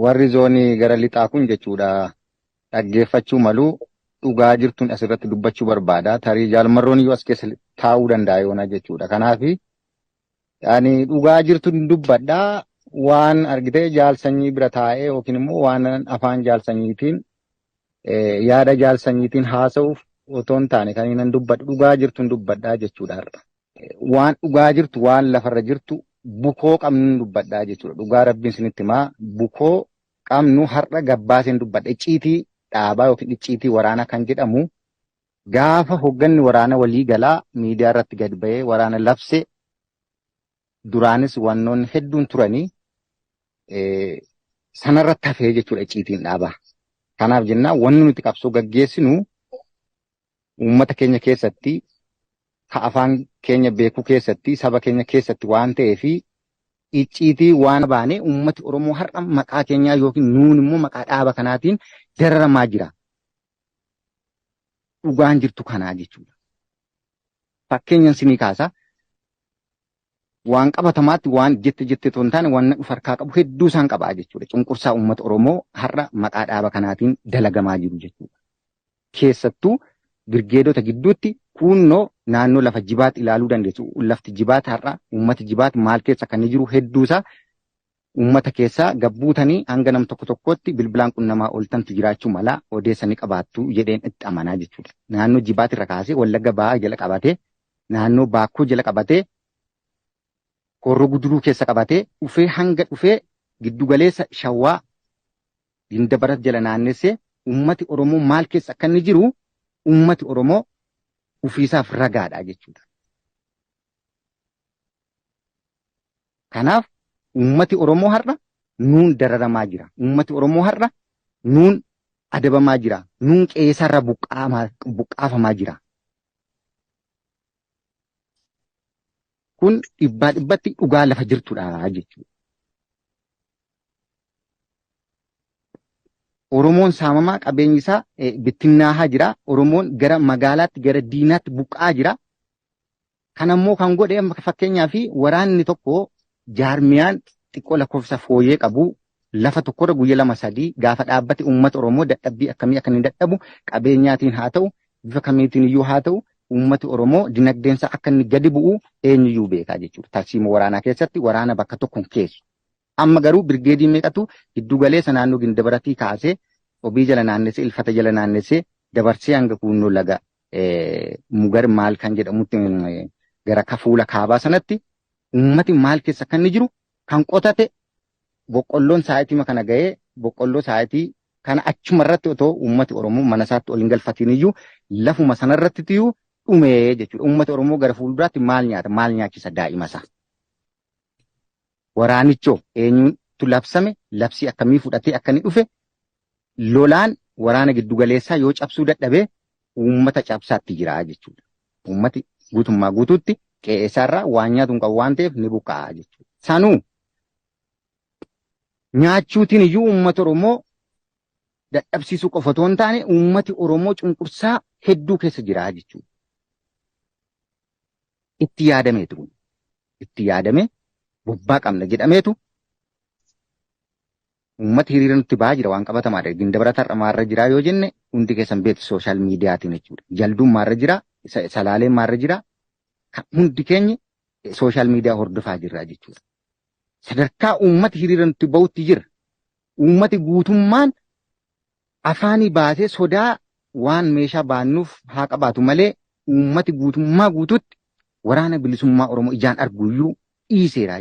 warri zoonii gara lixaa kun jechuudha dhaggeeffachuu malu dhugaa jirtuun asirratti dubbachuu barbaada. Tarii jaalmarroon iyyuu as keessa taa'uu danda'a yoona jechuudha. Kanaaf ani dhugaa jirtuun dubbadha waan argitee jaalsanyii bira taa'ee yookiin immoo waan afaan jaalsanyiitiin yaada jaalsanyiitiin haasa'uuf otoo hin taane kan inni dubbadhu dhugaa jirtuun dubbadha jechuudha har'a. waan dhugaa jirtu waan lafarra jirtu bukoo qabnu dubbadhaa jechuudha. Dhugaa rabbiin sinitti himaa bukoo qabnu har'a gabbaaseen dubbadha. Icciitii dhaabaa yookiin icciitii waraanaa kan jedhamu gaafa hogganni waraana walii galaa miidiyaa irratti gad ba'ee waraana labse duraanis wannoonni hedduun turanii sanarratti hafee jechuudha icciitiin dhaabaa. Kanaaf jennaan wanni nuti qabsoo gaggeessinu uummata keenya keessatti ka afaan keenya beekuu keessatti saba keenya keessatti waan ta'ee fi icciitii waan baane uummati Oromoo har'a maqaa keenyaa yookiin nuun immoo maqaa dhaaba kanaatiin dararamaa jira. Dhugaan jirtu kanaa jechuudha. Fakkeenyan sinii kaasa. waan qabatamaatti waan jette jette otoo hin taane waan of harkaa qabu hedduu isaan qabaa jechuudha. Cunqursaa uummata Oromoo har'a maqaa dhaaba kanaatiin dalagamaa jiru jechuudha. Keessattuu birgeedota gidduutti kuunnoo naannoo lafa jibaat ilaaluu dandeessu. Lafti jibaat har'a uummati jibaat maal keessa kan jiru hedduusaa Uummata keessaa gad buutanii hanga nam tokko tokkootti bilbilaan qunnamaa ooltantu jiraachuu mala, odeessa ni qabaattu jedheen itti amanaa jechuudha. Naannoo Jibaat irra kaasee Wallagga Bahaa jala qabatee, naannoo Baakkoo jala qabatee, Horroo Guduruu keessa qabatee, dhufee hanga dhufee giddu galeessa Shawaa Gindabarat jala naannessee uummati Oromoo maal keessa akka inni jiru uummati Oromoo ofiisaaf ragaadha jechuudha. Kanaaf uummati Oromoo har'a nuun dararamaa jira. Uummati Oromoo har'a nuun adabamaa jira. Nuun qe'eesaarraa buqqaafamaa jira. Kun dhibbaa dhibbatti dhugaa lafa jirtudha jechuudha. Oromoon saamamaa qabeenyi isaa eh, bittinnaahaa jira. Oromoon gara magaalaatti gara diinaatti buqqa'aa jira. Kan ammoo kan godhe amma fakkeenyaaf waraanni tokko jaarmiyaan xiqqoo lakkoofsa fooyyee qabu lafa tokkorra guyya lama sadii gaafa dhaabbate uummata Oromoo dadhabbii akkamii akka inni dadhabu qabeenyaatiin haa ta'u bifa kamiitiin iyyuu haa ta'u uummati Oromoo dinagdeensa akka inni gadi bu'u eenyuyyuu beekaa jechuudha. Tarsiima waraanaa keessatti waraana bakka tokkoon keessu. Amma garuu birgeedii meeqatu giddu galeessa naannoo Gindabaratii kaasee Cobii jala naannessee, Ilfata jala naannessee dabarsee hanga kuunnoo laga Mugar maal kan jedhamutti gara kafuula kaabaa sanatti uummati maal keessa kan inni jiru kan qotate boqqolloon saayitima kana ga'ee boqqolloo saayitii kana achuma irratti otoo uummati Oromoo mana isaatti ol hin galfatiin iyyuu lafuma sana irratti iyyuu dhumee jechuudha. Uummati Oromoo gara fuulduraatti maal nyaata maal nyaachisa daa'ima isaa. Waraanichoo eenyutu labsame, labsii akkamii fudhatee akka inni dhufe, lolaan waraana giddugaleessaa yoo cabsuu dadhabe uummata cabsaatti jira jechuudha. Uummati guutummaa guutuutti qe'ee isaarraa waan nyaatu hin qabu waan ta'eef ni buqqa'a jechuudha. Sanuu nyaachuutiin iyyuu uummata Oromoo dadhabsiisuu qofa otoo hin taane uummati Oromoo cunqursaa hedduu keessa jira jechuudha. itti yaadameetu kun itti yaadamee bobbaa qabna jedhameetu uummata hiriira nutti ba'aa jira waan qabatamaadha. Gindabrat har'a maarra jiraa yoo jenne hundi keessan beektu sooshaal miidiyaatiin jechuudha. Jalduun maarra jiraa, sa- salaaleen maarra jiraa, kan hundi keenya sooshaal miidiyaa hordofaa jirra jechuudha. Sadarkaa uummati hiriira nutti ba'utti jira. Uummati guutummaan Afaanii baasee sodaa waan meeshaa baannuuf haa qabaatu malee uummati guutummaa guutuutti waraana bilisummaa Oromoo ijaan arguuyyuu dhiiseera.